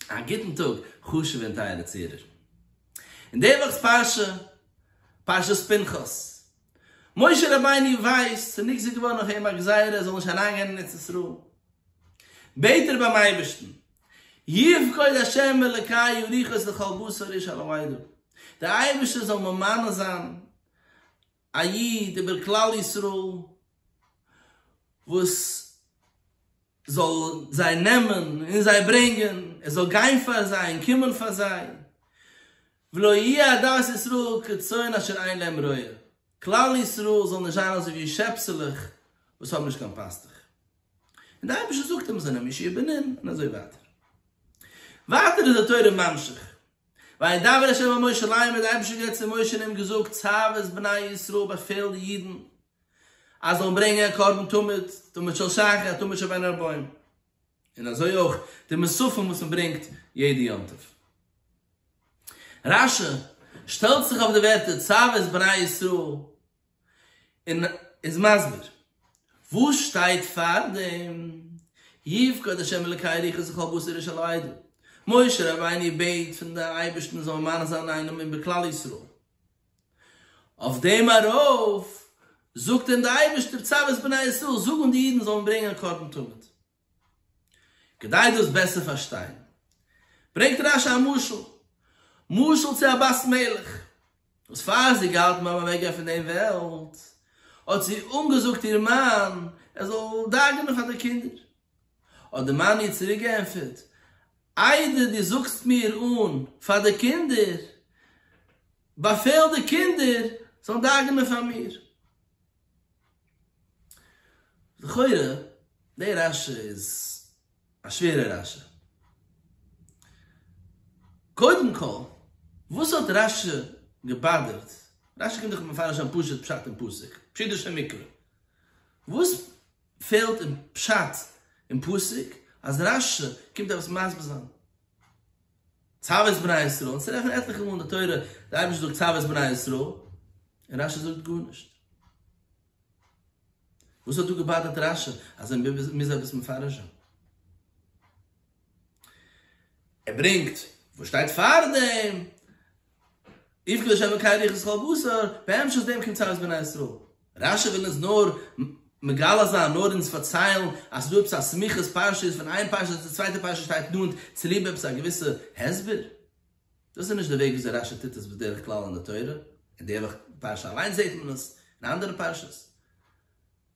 א גוטן טאג חשוב'ע און טייערע צוהערער. אין די וואכ'ס פרשה, פרשת פנחס, משה רבינו ווייסט ס'איז נגזר געווארן אויף אים א גזירה ער זאל נישט אריינגיין אין ארץ ישראל, בעט ער ביים אייבערשטן, יפקוד השם אלוקיי אריכות לכל בשר איש על המועד, דער אייבערשטער זאל ממנה זיין א איד איבער כלל ישראל וואס זאל זיי נעמען און זיי ברענגען, ער זאל גיין פאר זיי און קומען פאר זיי, ולא יהיה עדת ישראל כצאן אשר אין להם רועה, כלל ישראל זאל נישט זיין אזוי ווי שעפסעלעך וואס האבן נישט קיין פאסטוך, און דער אייבערשטער זאגט אים זיי זענען משועבדים און אזוי ווייטער. ווייטער איז די תורה ממשיך וידבר ה' אל משה לאמר האט דער אייבערשטער גערעדט צו משה און אים געזאגט, צוה את בני ישראל באפעל די אידן אז זיי זאלן ברענגען א קרבן תמיד, תמיד של שחר, תמיד של בין ארבעים, און אזוי אויך די מוספים וואס מען ברענגט יעדע יום טוב. רשי שטעלט זיך אויף די ווערטער צוה את בני ישראל. און איז מסביר וואס שטייט פאר דעם יפקד השם אלקי ריחות וכל בשר איש על העדה, משה רבינו בעט פון די אייבערשטן זאל מאריך זיין איינעם איבער כלל ישראל, אויף דעם ארויף זאגט אים די אייבערשטער צוות בני ישראל זאגן די אידן זאלן ברענגען קרבן תמיד. כדי דאס בעסער פארשטיין, ברענגט רש י א משל, משל צו א בת מלך, וואס פאר זי געהאלטן ביים אוועקגיין פון דעם וועלט, האט זי אנגעזאגט איר מאן ער זאל דאגה'נען פאר די קינדער. האט דער מאן איר צוריק געענטפערט, איידער דו זאגסט מיר אן פאר די קינדער, באפעל די קינדער זאלן דאגה'נען פאר מיר. לכאורה די רשע איז א שווערע רשע. קודם כל וואס האט רשע געבאדערט, רשע קומט דאך מפרש אן פשוט פשט אין פסוק, פשוט'ישע מקרא, וואס פעלט אין פשט אין פסוק אז רשע קומט עפעס מסביר זיין? צוות בני ישראל, און ס'רעכנט מען עטליכע מאל אין די תורה, די אייבערשטער זאגט צוות בני ישראל, און רשי זאגט גארנישט. וואס האט דא געבאדערט רשי אז ער מוז עפעס מפרש זיין? ער ברענגט וואס שטייט פארדעם, איכא דשאי מקאי ריח ישחל בשר, בהמשך דעם קומט צרות בני ישראל. רשי וויל אונז נאר מגלה זיין, נאר אונז פארציילן אז ס'דא עפעס א סמיכות פרשיות פון איין פרשה צו די צווייטע פרשה שטייט נאנט צוליב עפעס א געוויסע הסבר. דאס איז נישט די וועג וויאזוי רשי טוט עס בדרך כלל אין די תורה, אין די פרשה אליינס זעט מען עס, אין אנדערע פרשות.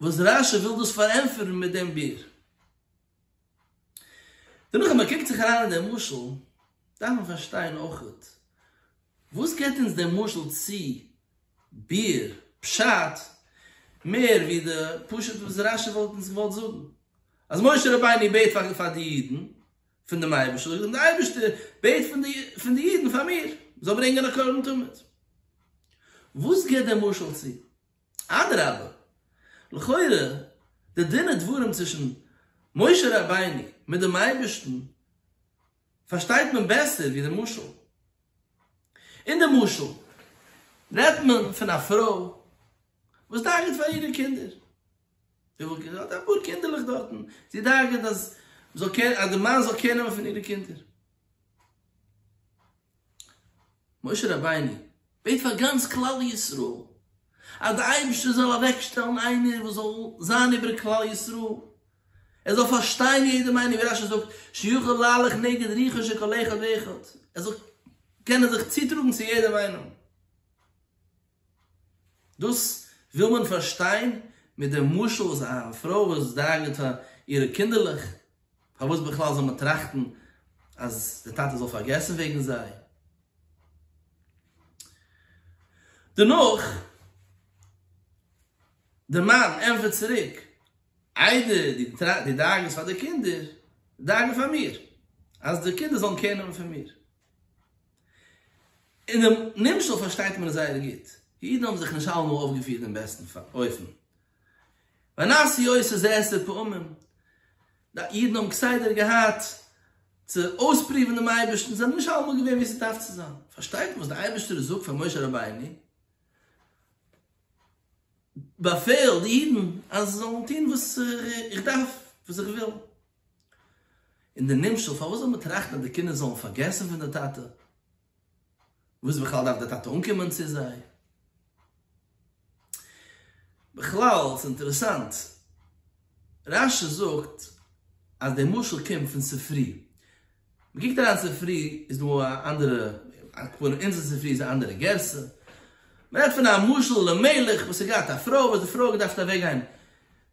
וואס רשי וויל דאס פארענטפערן מיט דעם ביר. דערנאך ווען מען קוקט זיך אריין אין דעם משל, דארף מען פארשטיין אויך, וואס געבט אונז דער משל צו ביר פשט מער ווי די פשט וואס רשי וואלט אונז געוואלט זאגן, אז משה רבינו בעט פאר די אידן פון דעם אייבערשטער, און דער אייבערשטער בעט פון די אידן פאר מיר, זאל ברענגען א קרבן תמיד. וואס געבט דער משל צו? אדרבה, לכאורה די דין ודברים צווישן משה רבינו מיט דעם אייבערשטן פארשטייט מען בעסער ווי די משל. אין די משל רעדט מען פון א פרוי וואס דאגה'ט פאר אירע קינדער. זי וויל קינדער, האט אפאר קינדערלעך דארטן, זי דאגה'ט אז מ'זאל קער, אז די מאן זאל קער נעמען פון אירע קינדער. משה רבינו בעט פאר גאנץ כלל ישראל, אז די אייבערשטער זאל אוועקשטעלן איינער וואס זאל זיין איבער כלל ישראל, ער זאל פארשטיין יעדע מיינונג, ווי רשי זאגט, שיוכל להלך נגד ריחו של כל אחד ואחד, ער זאל קענען זיך צוטראגן צו יעדע מיינונג. דאס וויל מען פארשטיין מיט דעם משל וואס א פרוי וואס דאגה'ט פאר אירע קינדערלעך, פארוואס בכלל זאל מען טראכטן אז די טאטע זאל פארגעסן וועגן זיי? דערנאך, דער מאן ענטפערט צוריק, איידער דו דאגה'סט פאר די קינדער, דאגה פאר מיר, אז די קינדער זאלן קעיר נעמען פון מיר. אינעם נמשל פארשטייט מען עס זייער גוט. די אידן האבן זיך נישט אלעמאל אויפגעפירט אין בעסטן אופן. ונעשי עושה זה עשר פעמים. די אידן האבן כסדר געהאט צו אויספרואוון דעם אייבערשטן, זיי זענען נישט אלעמאל געווען ווי עס דארף צו זיין. פארשטייט מען וואס דער אייבערשטער זאגט פאר משה רבינו, באפעל די אידן אז זיי זאלן טון וואס איך דארף, וואס איך וויל. און די נמשל, פארוואס זאל מען טראכטן אז די קינדער זאלן פארגעסן פון די טאטע? וואס בכלל דארף די טאטע אנקומען צו זיי? בכלל, ס'איז אינטערעסאנט, רש י זאגט אז די משל קומט פון ספרי. מ'קוקט אריין אין ספרי איז דא א אנדערע, אקעגפאר אונזער ספרי איז א אנדערע גרסה. מ'רעדט פון א משל למלך וואס האט געהאט א פרוי וואס די פרוי האט געדארפט אוועקגיין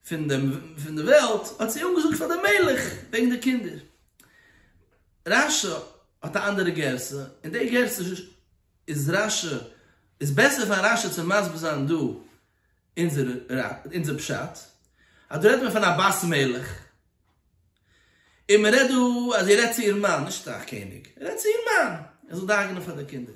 פון דעם פון דער וועלט, האט זי אנגעזאגט פאר דעם מלך וועגן די קינדער. רש י האט א אנדערע גרסה, און די גרסה איז רש י איז בעסער פאר רש י צו מסביר זיין דא אונזער אונזער פשט, אז דא רעדט מען פון א בת מלך, און מען רעדט דא אז זי רעדט צו איר מאן, נישט צו א קעניג, רעדט צו איר מאן, ער זאל דאגה'נען פאר די קינדער.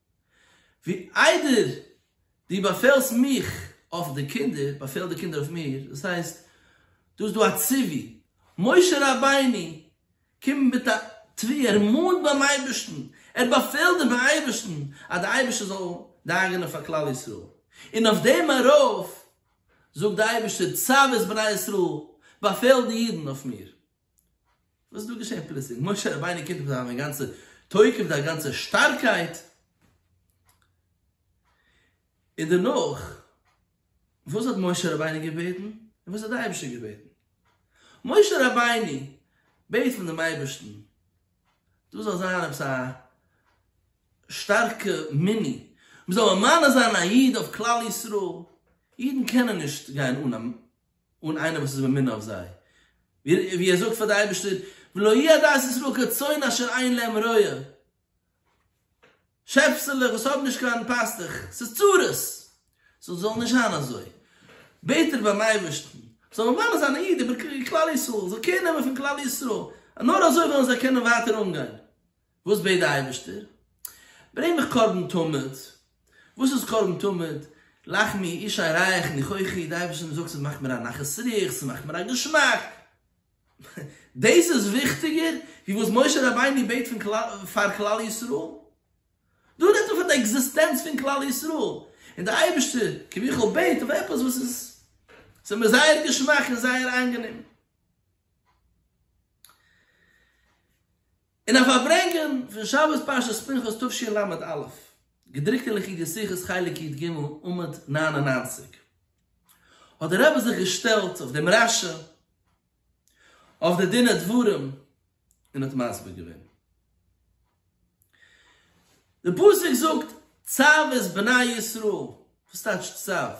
ווי איידער דו באפעלסט מיך אויף די קינדער, באפעל די קינדער אויף מיר, דאס הייסט, דא איז דא א ציווי, משה רבינו קומט מיט א תביעה, ער מאנט ביים אייבערשטן, ער באפעלט דעם אייבערשטן, אז די אייבערשטער זאל דאגה'נען פאר כלל ישראל, און אויף דעם ארויף זאגט די אייבערשטער, צוות בני ישראל, באפעל די אידן אויף מיר. וואס איז דא געשען פלוצלינג? משה רבינו קומט מיט זיין אגאנצע תוקף, זיין גאנצע שטארקייט, און דערנאך, וואס האט משה רבינו געבעטן? און וואס האט דער אייבערשטער געבעטן? משה רבינו בעט פון דעם אייבערשטן, דאס זאל זיין עפעס א שטארקע מיני, מ'זאל ממנה זיין א איד אויף כלל ישראל, אידן קענען נישט גיין אן א. אן איינער וואס איז ממונה אויף זיי, ווי ער זאגט פאר די אייבערשטער, ולא יהי' עדת ישראל כצאן אשר אין להם רועה, שעפסעלעך וואס האבן נישט קיין פאסטעך, ס'איז צרות, סאו זאל נישט זיין אזוי, בעט ער ביים אייבערשטן, זאל ממנה זיין א איד איבער כלל ישראל, זאל קעיר נעמען פון כלל ישראל, נאר אזוי וועלן זיי קענען ווייטער אנגיין. וואס בעט די אייבערשטער? ברענג מיך קרבן תמיד. וואס איז קרבן תמיד? לחמי אישי רייך ניחוחי, די אייבערשטער זאגט ס'איז מאכט מיר א נחת רוח, ס'מאכט מיר א געשמאק. דאס איז וויכטיגער ווי וואס משה רבינו בעט פאר כלל ישראל? דא רעדט מען פון די עקזיסטענץ פון כלל ישראל, און די אייבערשטער כביכול בעט אויף עפעס וואס איז ס'איז מיר זייער געשמאק און זייער איינגענעם. אין א פארברענגען פון שבת פרשת פנחס תשי ל א, געדרוקט אין ליקוטי שיחות חלק י ג עמוד נײַן און נײַנציק, האט דער רבי זיך געשטעלט אויף דעם רשע אויף די דין ודברים און האט מסביר געווען. די פסוק זאגט צב את בני ישראל, וואס טייטשט צב?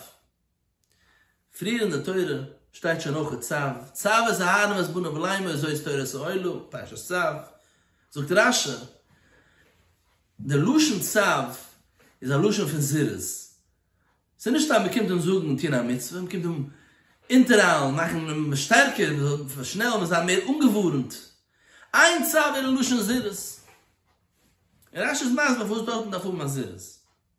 פריער אין די תורה שטייט שוין אויך צב, צב את אהרן ואת בניו ולאמו אזוי איז תורת העולה, פרשת צב, זאגט רש י, די לשון צב איז א לשון פון זירוז, ס'איז נישט סתם מ'קומט אים זאגן טון א מצוה, מ'קומט אים אונטערהיילן, מאכן אים שטערקער, מ'זאל אים פארשנעלן, מ'זאל זיין מער אנגעווארנט, עיין צב אין לשון זירוז, און רש י איז מסביר פארוואס דארטן דארף האבן א זירוז.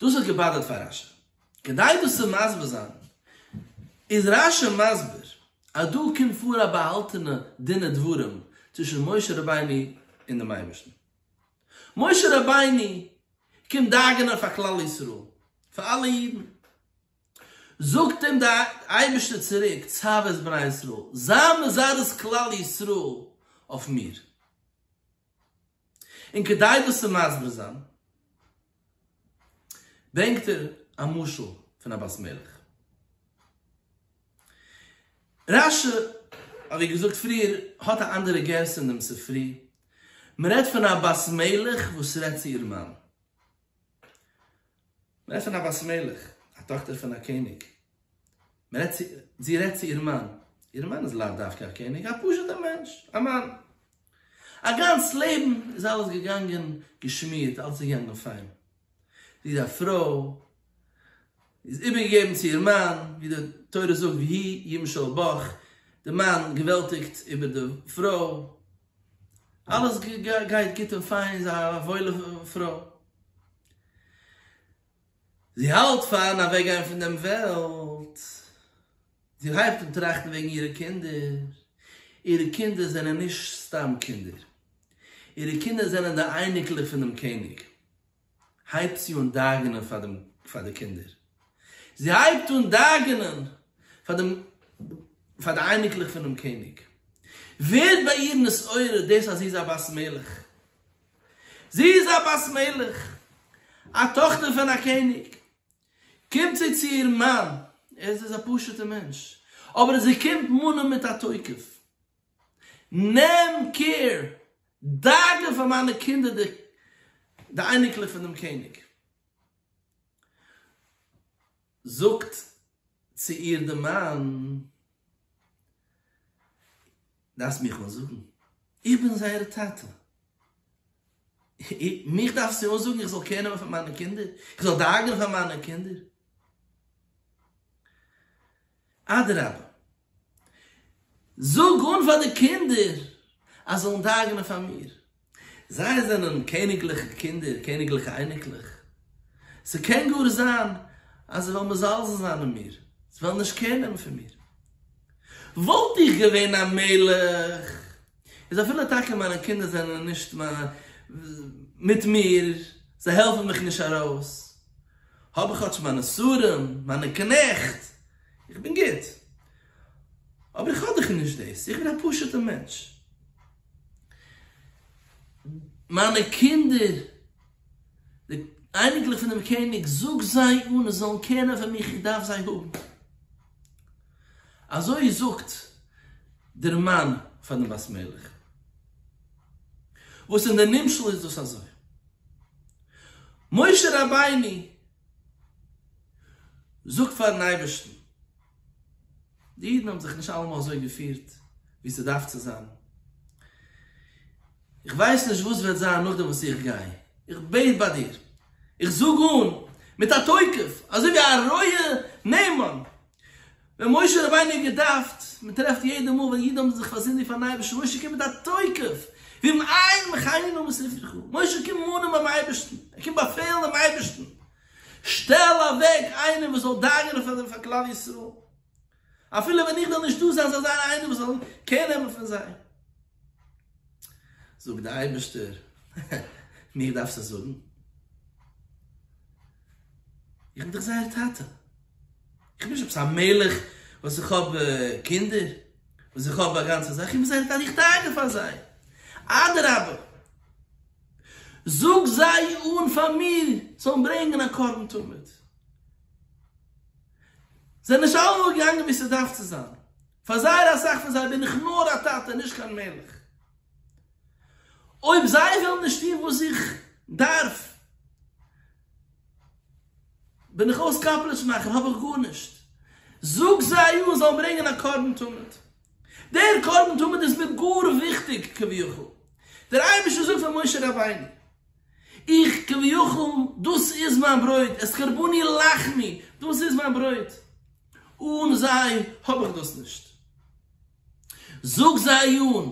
דאס האט געבאדערט פאר רשי. כדי דאס צו מסביר זיין, איז רשי מסביר אז דא קומט פאר א באהאלטענע דין ודברים צווישן משה רבינו און דעם אייבערשטן. משה רבינו קומט דאגה'נען פאר כלל ישראל, פאר אלע אידן. זאגט אים דער אייבערשטער צוריק, צוה את בני ישראל, זיי מזרז כלל ישראל אויף מיר. און כדי דאס צו מסביר זיין ברענגט ער א משל פון א בת מלך. רש י, ווי געזאגט פריער, האט א אנדערע גרסה אין דעם ספרי, מען רעדט פון א בת מלך וואס רעדט צו איר מאן. מען רעדט פון א בת מלך, א טאכטער פון א קעניג, מען רעדט צו, זי רעדט צו איר מאן, איר מאן איז לאו דווקא א קעניג, א פשוט'ער מענטש, א מאן. א גאנץ לעבן איז אלעס געגאנגען געשמירט, אלעס איז געגאנגען פיין. זי איז א פרוי, זי איז איבערגעגעבן צו איר מאן, ווי די תורה זאגט ויהי ימשל בך, די מאן געוועלטיגט איבער די פרוי, אלעס גייט גוט און פיין איז א וואוילע פרוי, זי האלט פארן אוועק גיין פון דעם וועלט, זי הייבט אן טראכטן וועגן אירע קינדער, אירע קינדער זענען נישט סתם קינדער, אירע קינדער זענען די אייניקלעך פונעם קעניג, הייבט זי אן דאגה'נען פאר דעם פאר די קינדער, זי הייבט אן דאגה'נען פאר דעם פאר די אייניקלעך פונעם קעניג, ווערט ביי איר נתעורר דאס אז זי איז א בת מלך, זי איז א בת מלך, א טאכטער פון א קעניג, קומט זי צו איר מאן, ער איז א פשוט'ע מענטש, אבער זי קומט מאנען מיט א תוקף, נעם קעיר דאגה פאר מיינע קינדער די די אייניקלעך פון דעם קעניג זאגט צו איר די מאן דארפסט מיך אנזאגן איך בין זייער טאטע מיך דארפסטו אנזאגן איך זאל קער נעמען פאר מיינע קינדער איך זאל דאגה'ן פאר מיינע קינדער אדרבה זאג אן פאר די קינדער אז זיי זאלן דאגה'נען פאר מיר. זיי זענען קעניגליכע קינדער, קעניגליכע אייניקלעך. ס'קען גאר זיין אז זיי וועלן מזלזל זיין אין מיר, זיי וועלן נישט קער נעמען פון מיר. וואלט איך געווען א מלך, איז אפילו טאקע מיינע קינדער זענען נישט מיט מיר, זיי העלפן מיך נישט ארויס, האב איך כאטש מיינע שרים, מיינע קנעכט, איך בין גוט, אבער איך האב דאך נישט דאס, איך בין א פשוט'ער מענטש. מיינע קינדער, די אייניקלעך פונעם קעניג, זאג זיי אן עס זאלן קענען פאר מיך, איך דארף זיי האבן. אזוי זאגט דער מאן פאר דעם בת מלך. וואס אין די נמשל איז דאס אזוי. משה רבינו זאג פארן אייבערשטן, די אידן האבן זיך נישט אלעמאל אזוי געפירט ווי ס'דארף צו זיין, איך ווייס נישט וואס וועט זיין נאכדעם וואס איך גיי, איך בעט ביי דיר, איך זאג אן מיט א תוקף אזוי ווי א רועה נאמן, ווען משה רבינו האט געדארפט, מען טרעפט יעדע מאל ווען אידן האבן זיך פארזינדיגט פארן אייבערשטן, משה קומט מיט א תוקף, ואם אין מחיינו ובשמחתך, משה קומט מאנען ביים אייבערשטן, ער קומט באפעלן דעם אייבערשטן, שטעל אוועק איינעם וואס זאל דאגה'נען פאר דעם פאר כלל ישראל, אפילו ווען איך וועל נישט דא זיין, זאל זיין איינער וואס זאל קער נעמען פון זיי. זאגט דער אייבערשטער, מיר דארפסט עס זאגן? איך בין דאך זייער טאטע. איך בין נישט עפעס א מלך וואס איך האב קינדער, וואס איך האב א גאנצע זאך, איך בין זייער דן, איך דאגה פאר זיי, אדרבה, זאג זיי אן פאר מיר זאלן ברענגען א קרבן תמיד. זיי נישט אלעמאל געגאנגען ווי ס'דארף צו זיין, פאר זייער אסאך פון זיי בין איך נאר א טאטע, נישט קיין מלך. אויב זיי ווילן נישט טון וואס איך דארף, בין איך אויס קאפלעטש מאכן האב איך גארנישט, זאג זיי אן זאלן ברענגען א קרבן תמיד, דער קרבן תמיד איז מיר גאר וויכטיג כביכול, דער אייבערשטער זאגט פאר משה רבינו, איך כביכול דאס איז מיין ברויט, את קרבני לחמי, דאס איז מיין ברויט, אן זיי האב איך דאס נישט, זאג זיי אן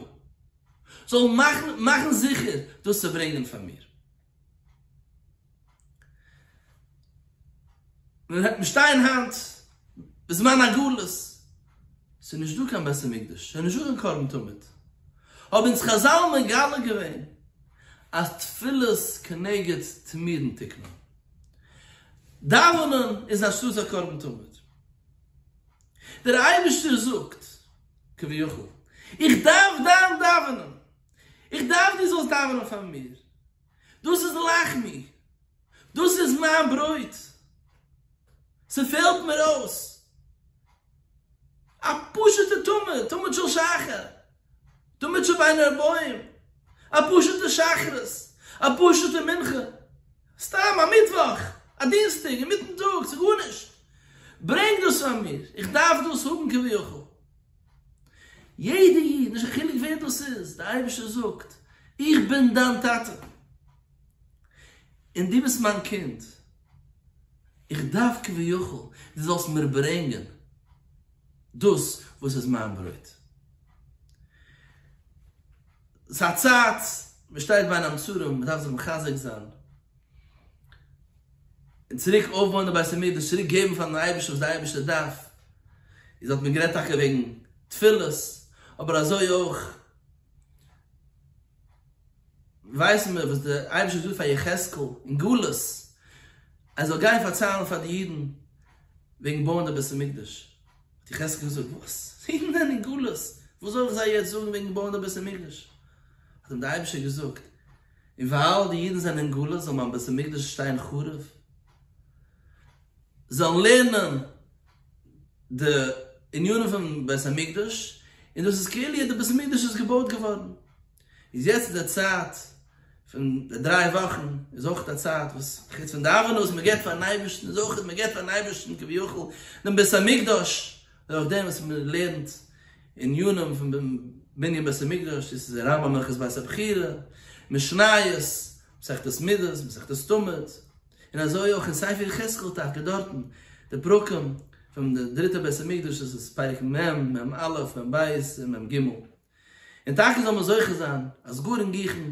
זאלן מאכן זיכער דאס צו ברענגען פאר מיר. מיר שטייען היינט בזמן הגלות, ס'איז נישט דא קיין בית המקדש, ס'איז נישט דא קיין קרן תמיד, האבן אונז חזל מגלה געווען אז תפילות כנגד תמירין תקנא, דאווענען איז אנשטאטס א קרבן תמיד, דער אייבערשטער זאגט כביכול איך דארף דיין דאווענען, איך דארף דו זאלסט דאווענען פאר מיר, דאס איז לחמי, דאס איז מיין ברויט, ס'פעלט מיר אויס, א פשוט'ע תמיד, תמיד של שחר, תמיד שבין ארבעים, א פשוט'ע שחרית, א פשוט'ע מנחה, סתם א מיטוואך, א דינסטאג אינמיטן טאג, ס'גארנישט, ברענג דאס פאר מיר, איך דארף דאס האבן כביכול. יעדע איד, נישט קיין חילוק ווער דאס איז, דער אייבערשטער זאגט, איך בין דיין טאטע, און דו ביסט מיין קינד, איך דארף כביכול דו זאלסט מיר ברענגען דאס וואס איז מיין ברויט. ס'איז א צייט, מ'שטייט ביין המצרים, מ'דארף זיך מחזק זיין, און צוריק אויפבויען די בית המקדש, צוריק געבן פארן אייבערשטן וואס די אייבערשטער דארף, איז האט מען גערעדט טאקע וועגן תפילות, אבער אזוי אויך ווייסן מיר וואס די אייבערשטער האט געזאגט פאר יחזקאל אין גלות, ער זאל גיין פארציילן פאר די אידן וועגן בויען די בית המקדש, האט יחזקאל געזאגט וואס? אידן זענען אין גלות, וואס זאל איך זיי יעצט זאגן וועגן בויען די בית המקדש? האט אים די אייבערשטער געזאגט, און ווייל די אידן זענען אין גלות זאל מיין בית המקדש שטיין חרוב, זאלן לערנען די ענינים פון בית המקדש, און דאס איז כאילו די בית המקדש איז געבויט געווארן. איז יעצט איז די צייט פון די דריי וואכן, איז אויך א צייט וואס חוץ פון דאווענען וואס מען געבט פארן אייבערשטן, איז אויך מען געבט פארן אייבערשטן כביכול דעם בית המקדש, נאך דעם וואס מען לערנט עניינים פון בנין בית המקדש, דאס איז רמב ם הלכות בית הבחירה, משניות, מסכת מידות, מסכת תמיד, און אזוי אויך אין ספר יחזקאל טאקע דארטן די פרקים פון די דריטע בית המקדש, דאס איז פרק מ, מ א, מ ב און מ ג. און טאקע זאל מען זוכה זיין אז גור און גיכן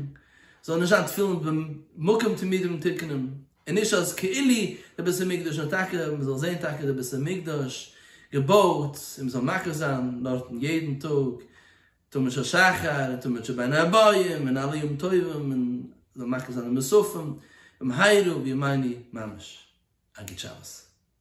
זאלן נישט זיין תפילין במקום תמידים ומתוקנים, און נישט אז כאילו די בית המקדש נאר טאקע מען זאל זען טאקע די בית המקדש געבויט און מען זאל מקריב זיין דארטן יעדן טאג תמיד של שחר און תמיד של בין הבאים און אלע ימים טובים און זאל מקריב זיין די מוספים במהרה בימינו ממש. א גוט שבת.